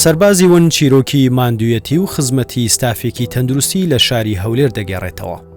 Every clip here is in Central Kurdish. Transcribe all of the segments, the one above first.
سەربازی ون چیرۆکی ماندوویەتی و خزمەتی ستافێکی تەندروستی لە شاری هەولێر دەگێڕێتەوە.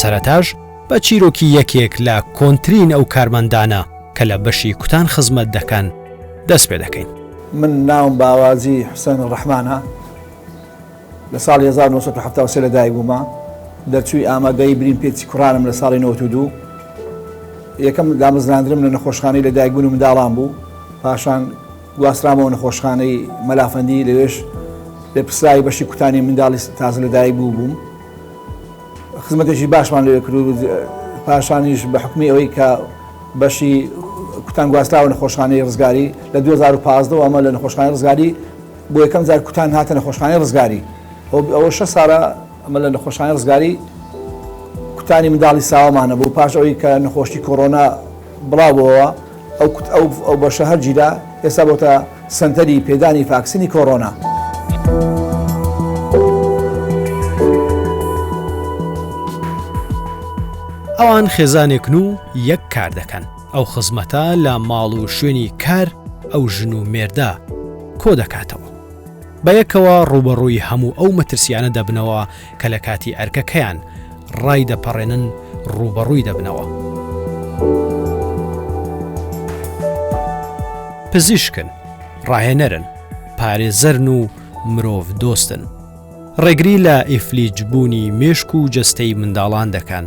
سەرەتاش بە چیرۆکی یەکێک لە کۆنترین ئەو کارمەندانە کە لە بەشی کوتان خزمەت دەکەن دەست پێ دەکەین من ناوم باوازی حسێن ڕەحمانە لە ساڵی هەزار و نۆ سەد و حەفتا و سێ لەدایک بوومە، دەرچووی ئامادەیی برین پێچی کوڕانم لە ساڵی نەوەد و دوو. یەکەم دامەزراندنم لە نەخۆشخانەی لەدایکبوون و منداڵان بوو، پاشان گواسترامەوە نەخۆشخانەی مەلافەندی، لەوێش لێپرسراوی بەشی کوتانی منداڵی تازە لەدایکبوو بووم. خزمەتێکی باشمان لەوێ کرد و پاشانیش بە حوکمی ئەوەی کە بەشی کوتان گواستراوە نەخۆشخانەی ڕزگاری، لە دوو هەزار و پازدە وە ئەمە لە نەخۆشخانەی ڕزگاری، بۆ یەکەم جار کوتان هاتە نەخۆشخانەی ڕزگاری هۆ ئەوە شە ساڵە ئەمە لە نەخۆشخانەی ڕزگاری کوتانی منداڵی ساوامانە بۆ پاش ئەوەی کە نەخۆشی کۆرۆنا بڵاوەوە ئەو ئەو بەشە هەر جیرا ئێستا بۆتە سنتەری پێدانی فاکسنی کۆرۆنا. ئەوان خێزانێکن و یەک کار دەکەن. ئەو خزمەتە لە ماڵ و شوێنی کار ئەو ژن و مێردە کۆدەکاتەوە. بەیەکەوە ڕووبەڕووی هەموو ئەو مەترسیانە دەبنەوە کە لە کاتی ئەرکەکەیان ڕایدەپەڕێنن ڕووبەڕووی دەبنەوە. پزیشکن، ڕاهێنەرن، پارێزەرن و مرۆڤ دۆستن. ڕێگری لە ئیفلیجبوونی مێشک و جەستەی منداڵان دەکەن.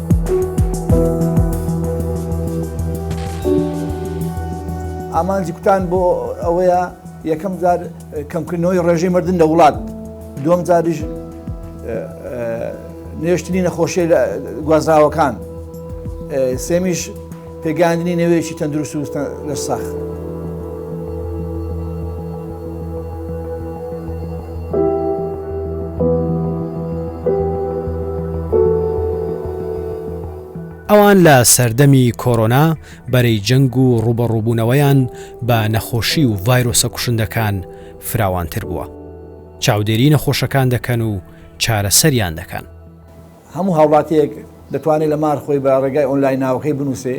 ئامانجی کوتان بۆ ئەوەیە یەکەم جار کەمکردنەوەی ڕێژەی مردن لە وڵات دوم جاریش نوێشتنی نەخۆشی گوازراوەکان سێمیش پێگەیاندنی نەوەیەکی تەندروست و لە ساخ. ئەوان لە سەردەمی کۆرۆنا بەرەی جەنگ و ڕوبەڕووبوونەوەیان بە نەخۆشی و ڤایرۆسە کوشندەکان فراوانتر بووە چاودێری نەخۆشەکان دەکەن و چارەسەریان دەکەن هەموو هاوڵاتیەک دەتوانێت لە مار خۆی بە ڕێگای ئۆنلاین ناوەکەی بنووسێ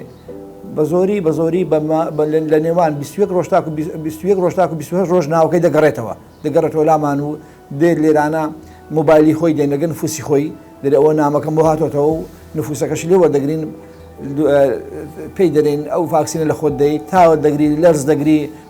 بە زۆری بە زۆری لە نێوان 21 ڕۆژتاکو 21 ڕۆژتاکو 20 ڕۆژ ناوەکەی دەگەڕێتەوە دەگەڕێتەوە لامان و دێت لێرانە موبایلی خۆی دێنەگەن فوسی خۆی دەێ ئەوە نامەکەم بۆ هاتۆتەوە و نفوسەکەش لێ وەردەگرین پێی دەرێن ئەو فاکسینە لە خۆت دەیت تاوە دەگری لەرز دەگری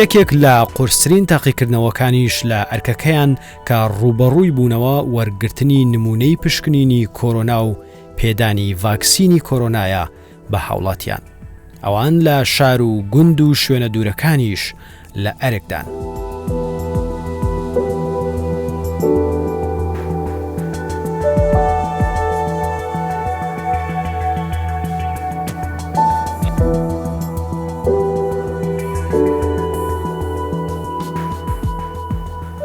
یەکێک لە قورسترین تاقیکردنەوەکانیش لە ئەرکەکەیان کە ڕووبەڕووی بوونەوە وەرگرتنی نموونەی پشکنینی کۆرۆنا و پێدانی ڤاکسینی کۆرۆنایە بە هاوڵاتیان. ئەوان لە شار و گوند و شوێنە دوورەکانیش لە ئەرکدان.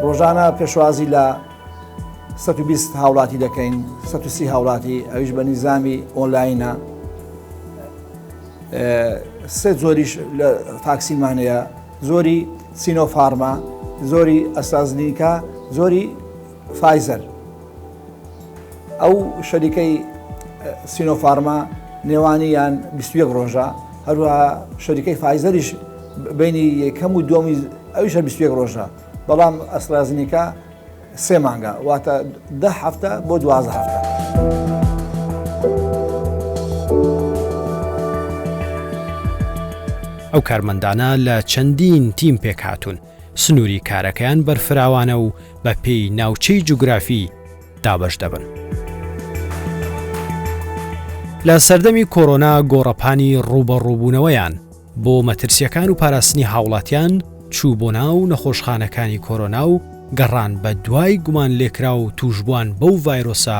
ڕۆژانە پێشوازی لە 120 هاوڵاتی دەکەین 130 هاوڵاتی ئەویش بە نیزامی ئۆنلاینە سێ زۆریش لە تاکسیمانەیە زۆری سینۆفارما زۆری ئەستازنیکە زۆری فایزەر ئەو شەریکەی سینۆفارما نێوانیان 21 ڕۆژە هەروە شەریکەی فایزەریش بینی یەکەم و دومی ئەویش 21 ڕۆژە بەڵام ئەسرازنیکە سێ مانگە واتە ده هەفتە بۆ دوازە هەفتە. ئەو کارمەندانە لە چەندین تیم پێک هاتوون سنووری کارەکەیان بەرفراوانە و بە پێی ناوچەی جوگرافی دابەش دەبن. لە سەردەمی کۆرۆنا گۆڕەپانی ڕووبەڕووبوونەوەیان بۆ مەترسییەکان و پاراستنی هاوڵاتیان چوو بۆ ناو نەخۆشخانەکانی کۆرۆنا و گەڕان بە دوای گومانلێکراو تووشبووان بەو ڤایرۆسە،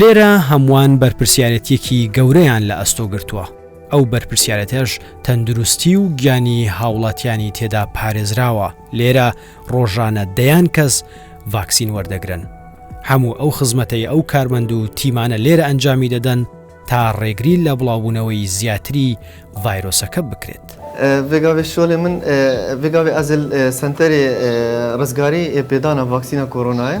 لێرە هەمووان بەرپرسیارەتیەکی گەورەیان لە ئەستۆ گرتووە، ئەو بەرپرسیارەتەش تەندروستی و گیانی هاوڵاتیانی تێدا پارێزراوە، لێرە ڕۆژانە دەیان کەس ڤاکسین وەردەگرن، هەموو ئەو خزمەتەی ئەو کارمەند و تیمانە لێرە ئەنجامی دەدەن تا ڕێگری لە بڵاوبوونەوەی زیاتری ڤایرۆسەکە بکرێت. ڤێگاڤێ شۆلێ من ڤێگاڤێ ئەزێل سەنتەرێ ڕزگاریی پێدانا ڤاکسینا کۆرۆنایە،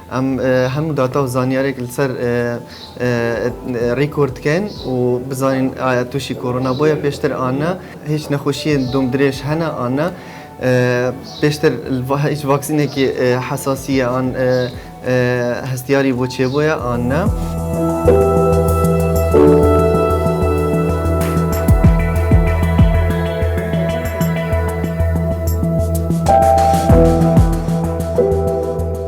ئەم هەموو داتا و زانیارێک لەسەر ڕیکۆرد کەن و بزانین ئایا تووشی کۆرۆنا بۆیە پێشتر ئانا هیچ نەخۆشیە دوم درێژ هەنا ئانا پێشتر هیچ ڤاکسینێکی حەساسیە ئان هەستیاری بۆ چێ بۆیە ئانا.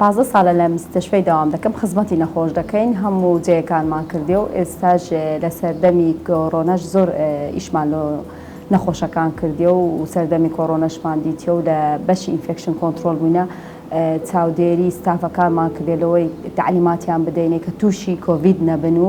پازدە سالە لە مستشفەی داوام دەکەم خزمەتی نەخۆش دەکەین هەموو جێیەکانمان کردیە و ئێستاش لە سەردەمی کۆرۆنەش زۆر ئیشمان لۆ نەخۆشەکان کردیە و سەردەمی کۆرۆنەشمان دیتیە و لە بەشی ئینفێکشن کۆنترۆل بووینە چاودێری ستافەکانمان کردیە لەوەی تەعلیماتیان بدەینێ کە تووشی کۆڤید نەبن و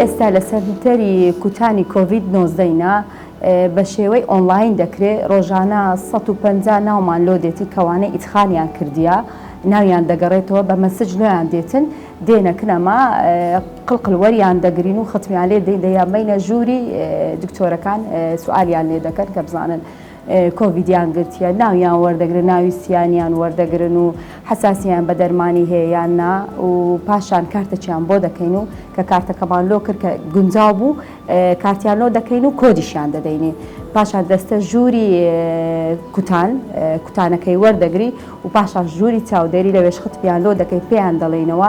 ئێستا لە سەنتەری کوتانی کۆڤید نۆزدەینا بە شێوەی ئۆنڵاین دەکرێ ڕۆژانە سەد و پەنجا ناومان لۆ دێتی کەوانەی ئیدخانیان کردیە ناویان دەگەڕێتەوە بە مەسج لۆیان دێتن دێنە کنەما قل قل وەریان دەگرین و ختمیان لێ دەین دەیان بەینە ژووری دکتۆرەکان سوالیان لێ دەکەن کە بزانن کۆڤیدیان گرتیە ناویان وەردەگرن ناوی سیانیان وەردەگرن و حساسیان بە دەرمانی هەیە یان نا و پاشان کارتەچیان بۆ دەکەین و کە کارتەکەمان لۆ کرد کە گونجاو بوو کارتیان لۆ دەکەین و کۆدیشیان دەدەینی پاشان دەستە ژووری کوتان کوتانەکەی وەردەگری و پاشان ژووری چاودێری لە وێشخت پیان لۆ دەکەی پێیان دەڵێینەوە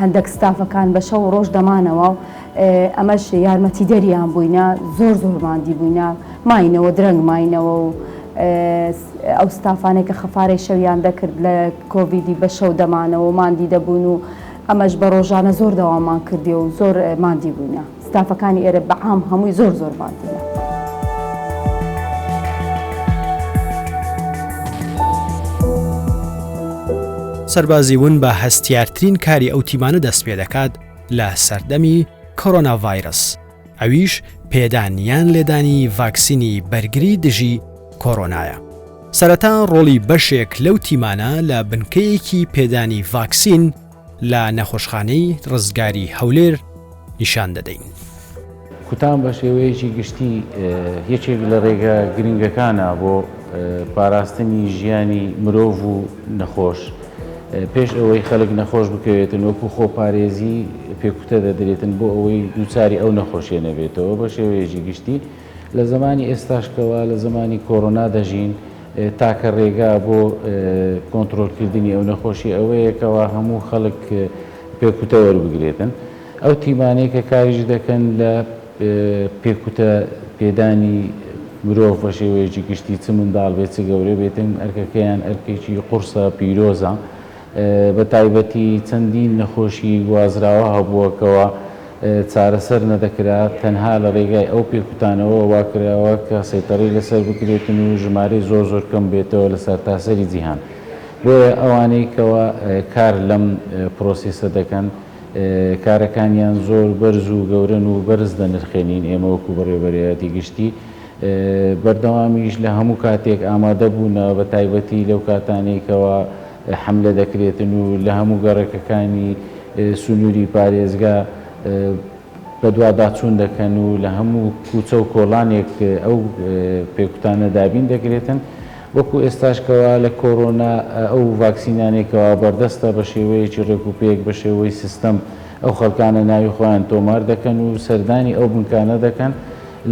هەندەک ستافەکان بە شەو و ڕۆژ دەمانەوە و ئەمەش یارمەتیدەریان بووینە، زۆر زۆر ماندی بووینە، ماینەوە درەنگ ماینەوە و ئەو ستافانەی کە خەفارەی شەویان دەکرد لە کۆڤیدی بە شەو دەمانەوە و ماندی دەبوون و ئەمەش بە ڕۆژانە زۆر دەواممان کردیە و زۆر ماندی بووینە. ستافەکانی ئێرە بە عام هەمووی زۆر زۆر بانتینە. سەربازی ون بە هەستیارترین کاری ئەو تیمانە دەست پێ دەکات لە سەردەمی کۆرۆنا ڤایرس ئەویش پێدان یان لێدانی ڤاکسینی بەرگری دژی کۆرۆنایە. سەرەتا ڕۆڵی بەشێک لەو تیمانە لە بنکەیەکی پێدانی ڤاکسین لە نەخۆشخانەی ڕزگاری هەولێر نیشان دەدەین. کوتان بە شێوەیەکی گشتی یەکێک لە ڕێگە گرنگەکانە بۆ پاراستنی ژیانی مرۆڤ و نەخۆش. پێش ئەوەی خەلک نەخۆش بکەوێتن وەکو خۆپارێزی پێکوتە دەدرێتن بۆ ئەوەی دووچاری ئەو نەخۆشیە نەبێتەوە بە شێوەیەکی گشتی. لە زەمانی ئێستاش کە وا لە زەمانی کۆرۆنا دەژین، تاکە رێگا بۆ کۆنترۆلکردنی ئەو نەخۆشیە ئەوەیە کە وا هەموو خەڵک پێکوتە وەربگرێتن. ئەو تیمانەی کە کاریش دەکەن لە پێکوتە پێدانی مرۆڤ بە شێوەیەکی گشتی چ منداڵ بێت چ گەورە بێتن ئەرکەکەیان ئەرکێکی قوڕسە پیرۆزە. بە تایبەتی چەندین نەخۆشی گوازراوە هەبووە کەوا چارەسەر نەدەکرا، تەنها لە رێگای ئەو پێکوتانەوە واکراوە کە سەیتەرەی لەسەر بکرێتن و ژمارەی زۆر زۆر کەم بێتەوە لە سەرتاسەری جیهان، بۆیە ئەوانەی کەوا کار لەم پرۆسێسە دەکەن کارەکانیان زۆر بەرز و گەورەن و بەرز دەنرخێنین ئێمە وەکو بەڕێوەبەرایەتی گشتی بەردەوامیش لە هەموو کاتێک ئامادە بوونە، بە تایبەتی لەو کاتانەی کەوا حەملە دەکرێتن و لە هەموو گەڕەکەکانی سنووری پارێزگا بەدواداچوون دەکەن و لە هەموو کوچە و کۆڵانێک ئەو پێکوتانە دابین دەکرێتن. وەکو ئێستاش کەوا لە کۆرۆنا ئەو ڤاکسینانەی کەوا بەردەستە بە شێوەیەکی ڕێک و پێک بە شێوەی سیستەم ئەو خەڵکانە ناوی خۆیان تۆمار دەکەن و سەردانی ئەو بنکانە دەکەن،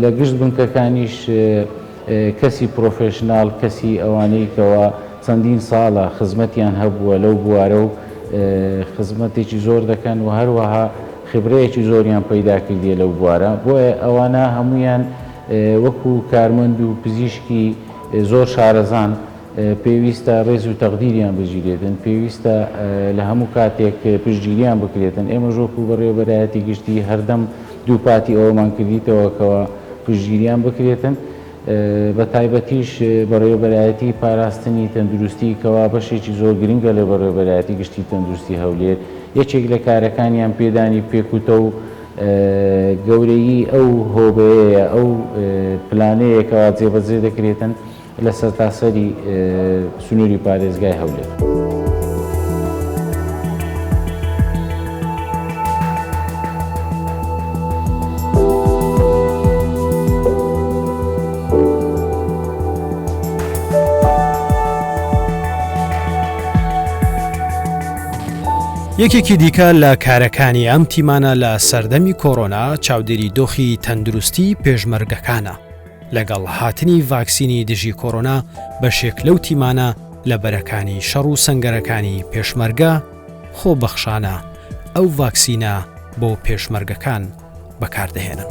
لە گشت بنکەکانیش کەسی پرۆفێشناڵ، کەسی ئەوانەی کەوا چەندین ساڵە خزمەتیان هەبووە لەو بوارە و خزمەتێکی زۆر دەکەن و هەروەها خبرەیەکی زۆریان پەیدا کردیە لەو بوارە، بۆیە ئەوانە هەموویان وەکو کارمەند و پزیشکی زۆر شارەزان، پێویستە ڕێز و تەقدیریان بگیرێتن، پێویستە لە هەموو کاتێک پشتگیریان بکرێتن، ئێمەش وەکو بەڕێوەبەرایەتی گشتی هەردەم دووپاتی ئەوەمان کردیتەوە کەوا پشتگیریان بکرێتن بە تایبەتیش بەڕێوەبەرایەتی پاراستنی تەندروستی کەوا بەشێکی زۆر گرنگە لە بەڕێوەبەرایەتی گشتی تەندروستی هەولێر یەکێک لە کارەکانیان پێدانی پێکوتە و گەورەیی ئەو هۆبەیەیە ئەو پلانەیە کەوا جێبەجێ دەکرێتن لە سەرتاسەری سنووری پارێزگای هەولێر. یەکێکی دیکە لە کارەکانی ئەم تیمانە لە سەردەمی کۆرۆنا چاودێری دۆخی تەندروستی پێشمەرگەکانە. لەگەڵ هاتنی ڤاکسینی دژی کۆرۆنا بەشێک لەو تیمانە لە بەرەکانی شەڕ و سەنگەرەکانی پێشمەرگە خۆبەخشانە ئەو ڤاکسینە بۆ پێشمەرگەکان بەکاردەهێنن.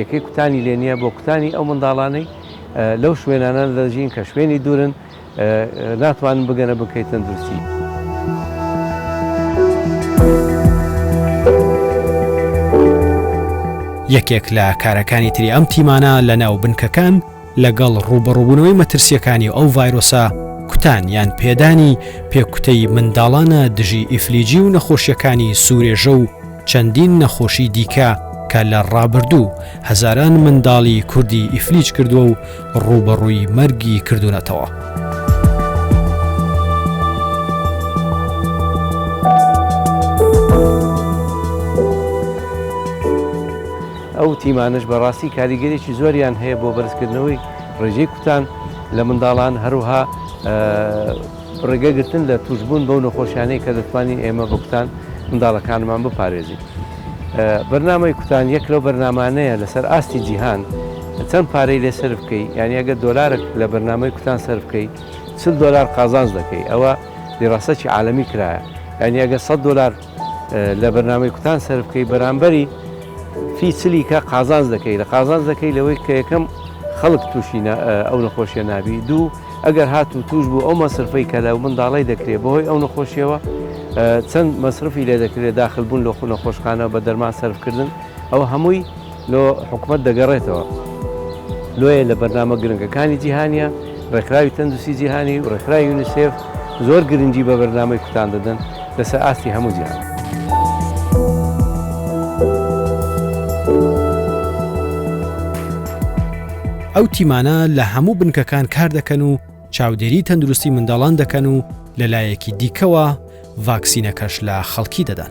یەکەی کوتانی لێ نییە بۆ کوتانی ئەو منداڵانەی لەو شوێنانە دەژین کە شوێنی دوورن ناتوانن بگەنە بنکەی تەندروستی. یەکێک لە کارەکانی تری ئەم تیمانە لە ناو بنکەکان لەگەڵ ڕووبەڕووبوونەوەی مەترسییەکانی ئەو ڤایرۆسە، کوتان یان پێدانی پێکوتەی منداڵانە دژی ئیفلیجی و نەخۆشییەکانی سورێژە و چەندین نەخۆشی دیکە کە لە ڕابردوو هەزاران منداڵی کوردی ئیفلیج کردووە و ڕووبەڕووی مەرگی کردوونەتەوە. ئەو تیمانەش بە ڕاستی کاریگەریی زۆریان هەیە بۆ بەرزکردنەوەی ڕێژەی کوتان لە منداڵان، هەروەها ڕێگەگرتن لە تووشبوون بەو نەخۆشیانەی کە دەتوانین ئێمە بە کوتان منداڵەکانمان بپارێزین. بەرنامەی کوتان یەک لەو بەرنامانەیە لەسەر ئاستی جیهان چەند پارەی لێ سەرف بکەی، یانی ئەگەر دۆلارەک لە بەرنامەی کوتان سەرف بکەی، چل دۆلار قازانج دەکەی، ئەوە دیراسەکی عالەمی کرایە، یانی ئەگەر سەد دۆلار لە بەرنامەی کوتان سەربکەی بەرامبەری فی چلیکە قازانج دەکەی لە قازانج دەکەی لەوەی کە یەکەم خەڵک تووشی ئەو نەخۆشیە نابی دوو ئەگەر هات و توش بوو ئەو مەسرفەی کە لە منداڵی دەکرێت بەهۆی ئەو نەخۆشیەوە چەند مەسرفی لێ دەکرێت داخلبوون لە خو نەخۆشخانە بە دەرمان سەرفکردن ئەوە هەمووی لۆ حکومەت دەگەڕێتەوە لۆیە لە بەرنامە گرنگەکانی جیهانیە، ڕێکخراوی تەندوستی جیهانی و ڕێکخراوی یونیسێف زۆر گرنگی بە بەرنامەی کوتان دەدەن لەسەر ئاستی هەموو جیهان. ئەو تیمانە لە هەموو بنکەکان کار دەکەن و چاودێری تەندروستی منداڵان دەکەن و لەلایەکی دیکەوە ڤاکسینەکەش لە خەڵکی دەدەن.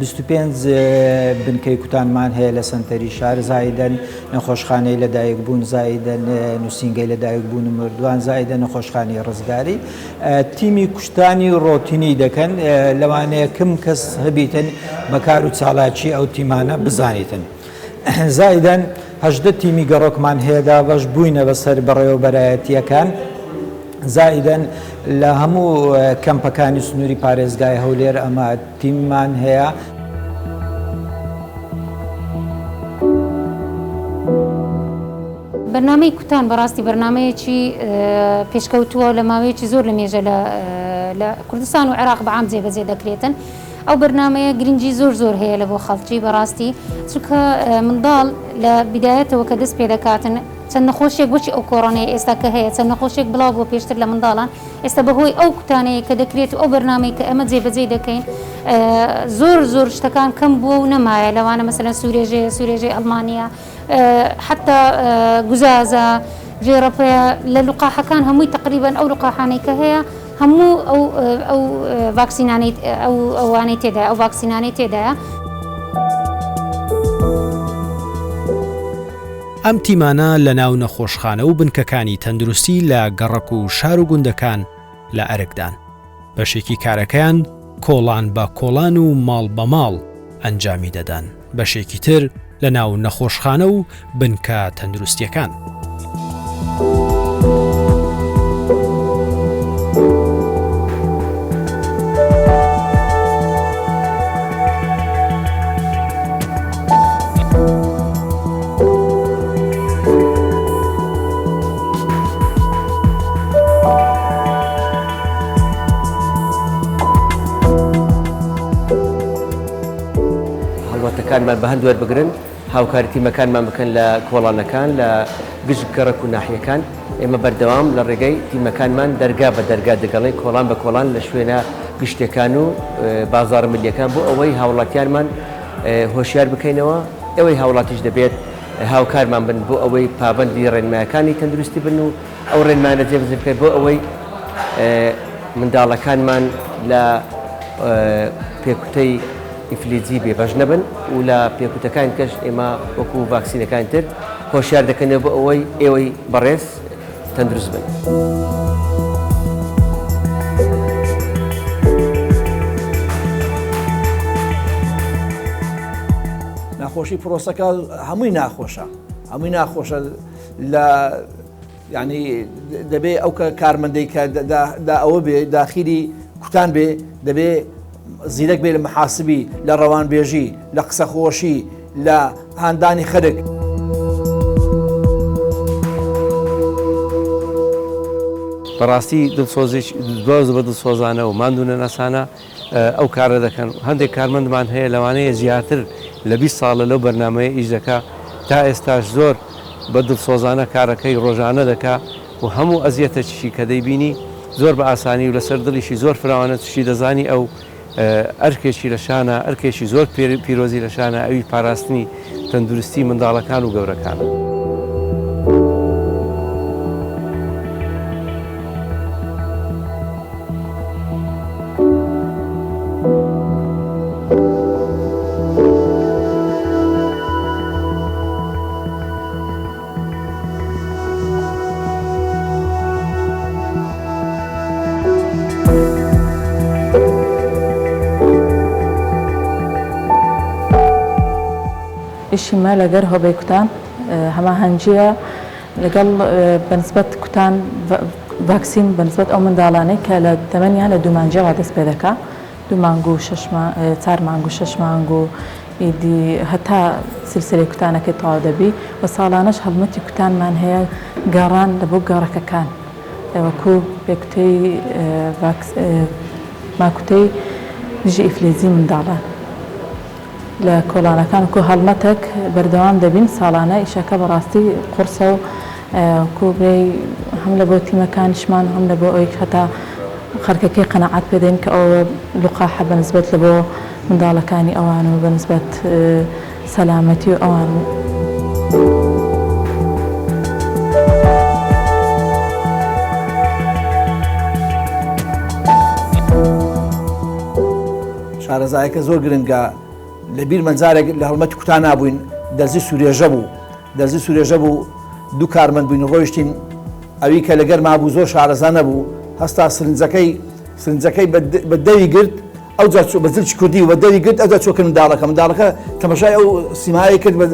بیست و پێنج بنکەی کوتانمان هەیە لە سەنتەری شار زایدەن نەخۆشخانەی لەدایک بوون زایدەن نووسنگەی لەدایک بوون و مردوان زایدە نەخۆشخانی ڕزگاری تیمی کوشتانی ڕۆتینی دەکەن لەوانەیە کم کەس هەبیتن بەکار و چالاکی ئەو تیمانە بزانیتن. زایدەن هەژدە تیمی گەڕۆکمان هەیە دابەش بووینە بەسەر بەڕێوەبەرایەتییەکان زایدەن لە هەموو کەمپەکانی سنووری پارێزگای هەولێر ئەمە تیممان هەیە. بەرنامەی کوتان بەڕاستی بەرنامەیەکی پێشکەوتووە و لە ماوەیەکی زۆر لە مێژە لە کوردستان و عێراق بەعام جێبەجێ دەکرێتن ئەو بەرنمەیە گرنگی زۆر زۆر هەیە لە بۆ خەڵکی بەڕاستی چکە منداڵ لە بدایەتەوە کە دەست پێ دەکاتن چەند نەخۆشیێک بچی ئەو کۆڕۆنەیە ئێستا کە هەیە چەند نەخۆشێک بڵاو بۆ پێشتر لە منداڵان ئێستا بەهۆی ئەو کوتانەی کە دەکرێت و ئەو بەرنامەی کە ئێمە جێبەجێی دەکەین زۆر زۆر شتەکان کەم بووە و نەمایە لەوانە مەسەلەن سوورێژێ سوورێژەی ئەڵمانیا حتا گوزازە ڤێڕەپەیە لە لوقاحەکان هەمووی تقریبان ئەو لوقاحانەی کە هەیە هەموو ئەو ڤاکسینانەی ئەو ئەوانەی تێدا ئەو ڤاکسینانەی تێدایە. ئەم تیمانە لە ناو نەخۆشخانە و بنکەکانی تەندروستی لە گەڕەک و شار و گوندەکان لە ئەرکدان. بەشێکی کارەکەیان کۆڵان بە کۆڵان و ماڵ بە ماڵ ئەنجامی دەدەن، بەشێکی تر لە ناو نەخۆشخانە و بنکە تەندروستییەکان. هەڵمەتەکانمان بە هەند وەربگرن هاوکاری تیمەکانمان بکەن لە کۆڵانەکان لە گشت گەڕک و ناحیەکان ئێمە بەردەوام لە ڕێگەی تیمەکانمان دەرگا بە دەرگا دەگەڵێ کۆڵان بە کۆڵان لە شوێنە گشتەکان و بازار ملیەکان بۆ ئەوەی هاوڵاتیانمان هۆشیار بکەینەوە، ئێوەی هاوڵاتیش دەبێت هاوکارمان بن بۆ ئەوەی پابەندی ڕێنمایەکانی تەندروستی بن و ئەو ڕێنمایانە جێبەجێ بکەین بۆ ئەوەی منداڵەکانمان لە پێکوتەی ئیفلیجی بێبەش نەبن و لە پێکوتەکانی دیکەش ئێمە وەکو ڤاکسینەکانی تر هۆشیار دەکەینەوە بۆ ئەوەی ئێوەی بەڕێز تەندروست بن. ناخۆشی پرۆسەکە هەمووی ناخۆشە هەمووی ناخۆشە لە ینی دەبێ ئەو کە کارمەندەی کە دا ئەوە بێ داخیری کوتان بێ دەبێ زیرەک بێ لە محاسبی، لە ڕەوانبێژی، لە قسەخۆشی، لە هاندانی خەرک. بەڕاستی دڵسۆزیش زۆر زبە دڵسۆزانە و ماندوونەناسانە ئەو کارە دەکەن هەندێک کارمەندمان هەیە لەوانەیە زیاتر لە 20 ساڵە لەو بەرنمەیە ئیش دەکا تا ئێستاش زۆر بە دڵسۆزانە کارەکەی ڕۆژانە دەکا و هەموو ئەزیەتەکیشی کە دەیبینی زۆر بە ئاسانی و لەسەر دڵیشی زۆر فراوانە چشی دەزانی ئەو ئەرکێکی لە شانە ئەرکێکی زۆر پیرۆزی لە شانە ئەوی پاراستنی تەندروستی منداڵەکان و گەورەکانە. ئیشی مە لەگەر هۆبەی کوتان هەماهەنگیە لەگەڵ بەنسبەت کوتان ڤاکسین بەنسبەت ئەو منداڵانەی کە لە تەمەنیان لە دوومانجەوە دەست پێ دەکا دوو مانگ و شەش مانگ چار مانگ و شەش مانگ و ئیدی هەتا سیلسلەی کوتانەکەی تەواو دەبی و ساڵانەش هەڵمەتی کوتانمان هەیە گەڕان لە بۆ گەڕەکەکان وەکو پێکوتەی ڤاکس ماکوتەی دژی ئیفلیجی منداڵان. لە کۆڵانەکان وەکو هەڵمەتەک بەردەوام دەبین ساڵانە ئیشەکە بەڕاستی قوڕسە و وەکو برێی هەم لە بۆ تیمەکانیشمان و هەم لە بۆ ئەوەی هەتا خەرکەکەی قەناعەت پێ دەین کە ئەوە لوقاحە بە نسبەت لە بۆ منداڵەکانی ئەوان و بە نسبەت سەلامەتی و ئەوان. شارەزایەکە زۆر گرنگە لە بیرمە جارێک لە هەڵمەتی کوتا نابووین دەرزی سورێژە بوو دەرزی سورێژە بوو دوو کارمەند بووین ڕۆیشتین ئەوی کە لەگەر مابوو زۆر شارەزا نەبوو هەستا سرنجەکەی سرنجەکەی بە دەوی گرت ئەو جاچوو بە زلچ کوردی و بە دەوی گرت ئەوجا چۆکە منداڵەکە منداڵەکە تەمەشای ئەو سیمایی کرد بە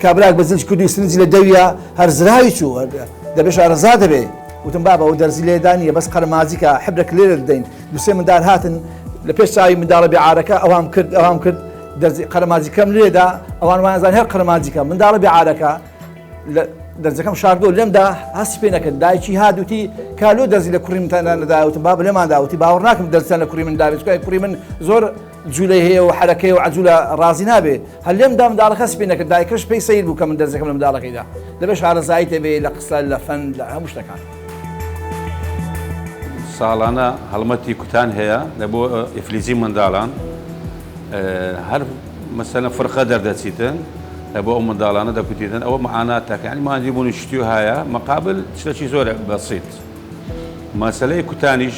کابراک بە زلچ کوردی سرنجی لە دەویە هەر زراوی چوو دەبێ شارەزا دەبێ وتم بابەوە دەرزی لێدانە بەس قەرمازیکە حبرە کلێرە دەین دوو سێ مندار هاتن لە پێش چاوی منداڵە بێ عارەکە ئەوام کرد ئەوام کرد دەرزی قەرەمازیکەم لێدا ئەوان وانزان هەر قەرمانجیکە منداڵە بێ عارەکە دەرزەکەم شاردۆ لێمدا هەست پێ نەکرد دایکی هادوتی کالو دەزی لە کوڕی منتاندا نەداوتم با لێمان داوتی باوەڕ ناکەم دەستیان لە کوڕی من داوێت کوڕی من زۆر جولەی هەیە و حەرەکەیە و عەجولە ڕازی نابێ هەر لێم دا منداڵەکە سپی نەکرد دایکەش پێی سەیر بوو کە من دەرزێکم لە منداڵەکەیدا دەبێ شارەزایی تێبێ لە قسە لە فەن لە هەموو شتەکان. ساڵانە هەڵمەتی کوتان هەیە لە بۆ ئیفلیجی منداڵان هەر مەسەنە فرقە دەردەچیتن لە بۆ ئەو منداڵانە دەکوتیتن ئەوە معانا تاکانی ماندی بوونی شتی و هاە مەقابل شتەکی زۆر بەسیت مەسلەی کوتانیش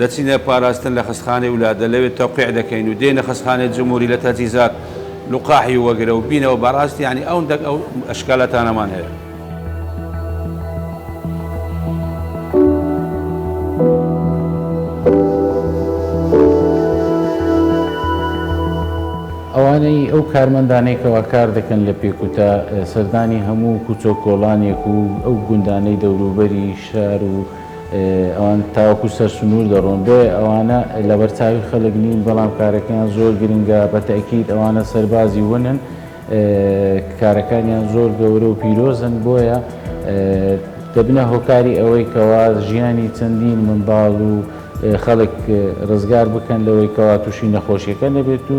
دەچینە پاراستن لە خەستخانەی ولادە لەوێ تەوقیع دەکەین و دێینە خەستخانەی جمهوری لە تەجیزات لقاحی وەگرە و بینەوە بەڕاست یانی ئەو دەک ئەو ئەشکالاتانەمان هەیە. ئەوانەی ئەو کارمەندانەی کەوا کار دەکەن لە پێکوتە سەردانی هەموو کوچە و کۆڵانێک و ئەو گوندانەی دەوروبەری شار و ئەوان تاوەکو سەر سنوور دەڕۆن، بۆیە ئەوانە لەبەر چاوی خەڵک نین، بەڵام کارەکەیان زۆر گرنگە، بە تەئکید ئەوانە سەربازی ونن، کارەکانیان زۆر گەورە و پیرۆزن، بۆیە دەبنە هۆکاری ئەوەی کەوا ژیانی چەندین منداڵ و خەڵک ڕزگار بکەن لەوەی کەوا تووشی نەخۆشیەکە نەبێت و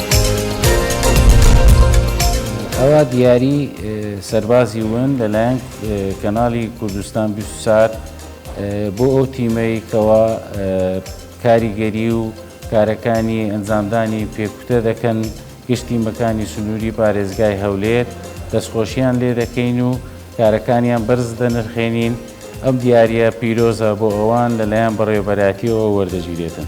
ئەوا دیاری سەربازی ون لەلایەن کەناڵی کوردستان بیست و چوار بۆ ئەو تیمەی کەوا کاریگەری و کارەکانی ئەنجامدانی پێکوتە دەکەن گشت تیمەکانی سنووری پارێزگای هەولێر دەستخۆشییان لێ دەکەین و کارەکانیان بەرز دەنرخێنین ئەم دیارە پیرۆزە بۆ ئەوان لەلایەن بەڕێوەبەراتیەوە وەردەگیرێتن.